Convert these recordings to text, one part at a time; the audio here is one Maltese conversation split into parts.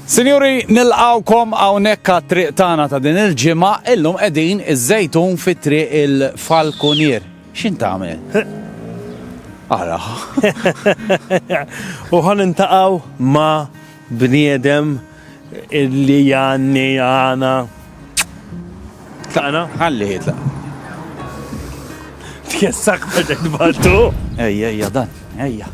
Sinjuri, nilqgħukom hawnhekk għat-triq tagħna ta' din il-ġimgħa, illum qegħdin iż-Żejtun fi triq il-Falkunier. X'in tagħmel? Ara. U ħan intaqaw ma bniedem illi janni għana. Taqna? Għalli hitla. Tkessak bħedek baltu? Ejja, ejja, dan, ejja.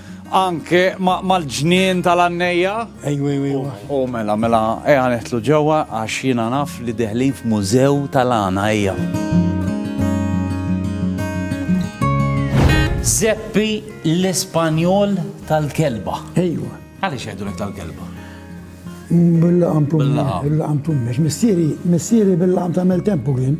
Anke mal-ġnien tal-għannejja? Ejwa, ejwa, ejwa. U mela, mela, eja neħtlu ġewwa għax jiena naf li deħlin f'mużew tal-għana, ejja. Zeppi l-Ispanjol tal-kelba. Ejwa. Għaliex jgħidulek tal-kelba? Bil-laqam tummex. Bil-laqam tummex. Missieri, missieri bil-laqam tagħmel tempu kien.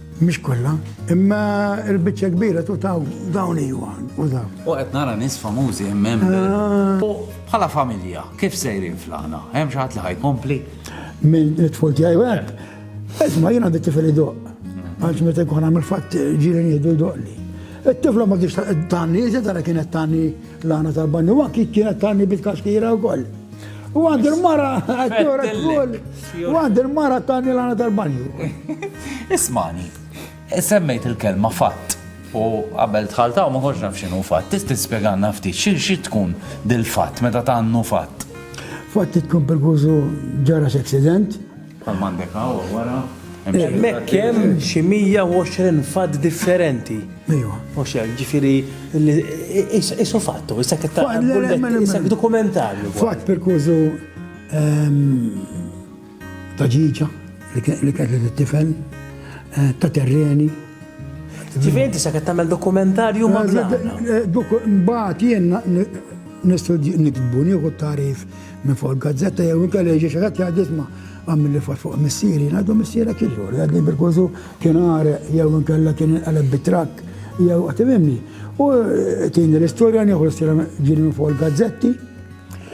Mhix kollha, imma l-biċċa kbira tu taw dawn iwa u dawn. U qed nara nies famużi hemm ah. U bħala familja, kif sejrin flana? Hemm xi ħadd li ħajkompli? Minn it-tful tiegħi hekk. Isma' jien għandi tifel idoq. Mhm. Għax meta jkun għamil fatt ġieli jieħdu jdoqli. It-tifla ma kienx tani, iżda tara kienet tani L-għana tal-banju għakki kienet tani bil-kaxkira u koll. U għand il-mara, għakjora koll. U għand il-mara tani l-għana tal-banju. Ismani, semmejt il-kelma fatt. U qabel tħaltaw ma konx naf xinu fatt. Tisti spieganna ftit, xi tkun dil-fatt meta tannu fatt? Fatt tkun per ġara x-accident Bħalma għandek hawn wara, hemm xi. Hemmhekk hemm xi 120 fatt differenti. Ejwa. Mhux hekk, ġifieri isu fattu, issa kif ta' issa dokumentarju. Fatt perkużu ta' ġiġa li kellet it-tifel, eh, ta' terreni. Ġifieri issa kif tagħmel dokumentarju ma' Mbagħad jien nistudju nikbu nieħu tarif Minn fuq il-gazzetta jew inkella jiġi xi ħadd jgħid isma' għamilli fot fuq missieri, ngħidu missierek jiġu, għadni bil-kużu kien għareq jew inkella kien inqaleb bit-trakk jew għatimimni. U tieni l-istorja nieħu l-istorja ġieli minn fuq il-gazzetti.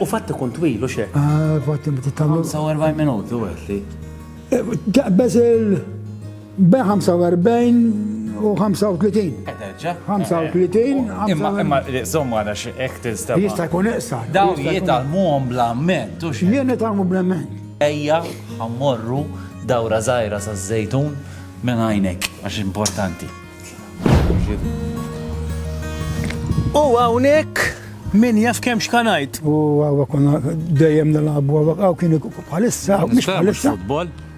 U fatt ikun twil u xek. Ah, fatt ikun twil. 45 minuti u għetli. Taqbeż il- Be 45 u 35. Ederġa. 35. Imma imma żomm għana x'hekk tinstema. Jista' jkun iqsa. Dawn jitalmuhom bla ment u xi. Jien nitalmu bla ment. Ejja ħammorru dawra żgħira saż-żejtun minn għajnek għax importanti. U hawnhekk min jaf kemm xkanajt. U għawa konna dejjem nilagħbu għawa għaw kien bħalissa, mhux bħalissa.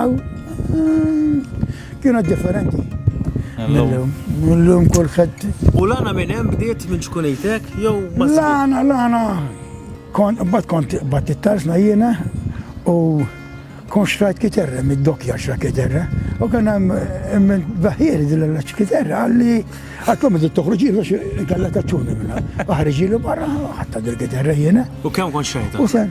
Aw, kienet differenti. Illum. Illum kulħadd. U l-għana minn hemm bdiet minn ċkunejtek jew ma L-għana, l-għana. Kont bat kont bat it-tarsna jiena u kont xtrajt kiterra mid-dokja xra kiterra. U kien hemm eh, baħieri din l kiterra għalli għatkom id toħroġi biex inkella taċċuni minna. Aħriġi li barra ħatta dil-kiterra jiena. U kemm kont xtrajta? U sen.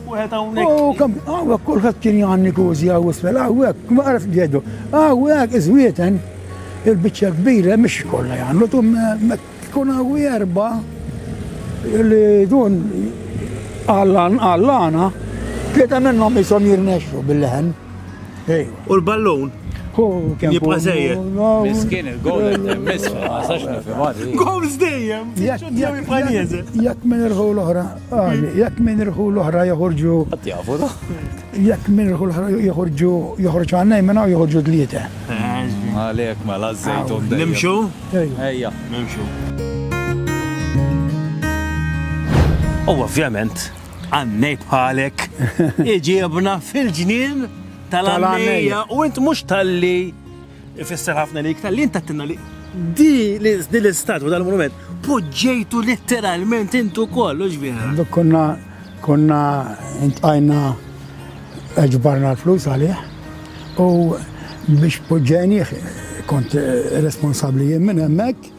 Wieħed hawnhekk. U kemm hawnhekk kulħadd kien jgħanni kużi hawn isfel hawnhekk, ma għaraf jgħidu. Hawnhekk iżwieten il-biċċa kbira mhix kollha jagħmlu tum tkun hawn erba' li dun għallan għallana tlieta minnhom ishom jirnexxu bil-leħen. U l-ballun? Jibqa zejjer. Miskin il-golem temmis, ma sax nifimadi. Gols dejjem, jibqa nieżel. Jekk minn irħu l-oħra, Għani, jekk minn irħu l-oħra joħorġu. Qatt jafu da. Jekk minn irħu l-oħra joħorġu joħorġu għannej minn hawn joħorġu dlieta. Għalhekk mela żejtun. Nimxu? Ejja. Nimxu. U ovvjament, għannej bħalek iġiebna fil-ġnien tal-għannejja u int mhux tal-li Ifisser ħafna li iktar li inta tinna li di l-istatwa dal-monument poġġejtu letteralment intu kollu ġvira. Duk konna konna intqajna ġbarna l-flus għalih u biex poġġejni kont responsabli jien minn hemmhekk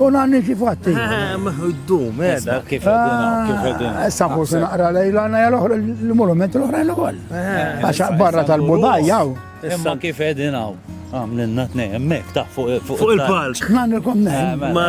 U nanni kif għatti. Mħuddum, eh, edha, kif għedina, ah, kif għedina. Eh, Sabu se naqra lejla għanna jgħal oħra l-monument l-oħra l-għol. Għaxa eh, barra tal-budaj jaw. Imma kif għedina għaw. Għamlinna t nej emmek, ta' fuq il-palk. Nanni kom nej. Ma.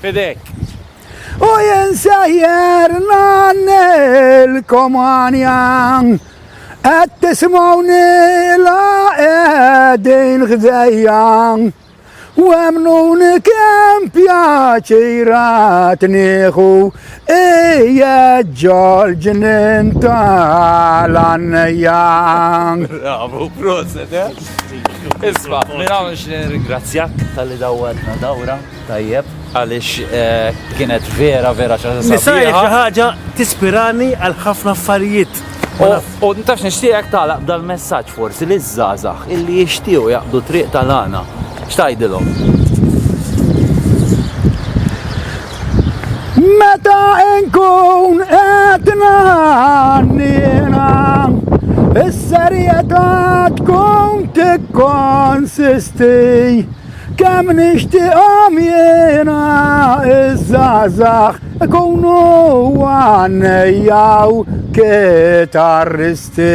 Fidejk. U jien sejjer ngħannilkom għanja, qed tismgħuni la qegħdin ħdejja, u emnuni kemm pjaċirat nieħu ija ġorġ ninta l-annejja. Bravo, proset, eh? Isma, minn hawn nixtieq ringrazzjak tal-li dawwarna dawra. Tajjeb, għaliex kienet vera vera xi ħaġa. Nisa hi xi ħaġa tispirani għal ħafna affarijiet. U ntax nixtieqek tagħlaq dal-messaġġ forsi li żgħażagħ illi jixtiequ jaqdu triq tal-għana. X'tgħidilhom? Meta nkun qed nagħnina is-serjetà tkun tikkonsisti Kemm nixtieqhom jiena iż-żgħażagħ ikunu għannejja u kitarristi.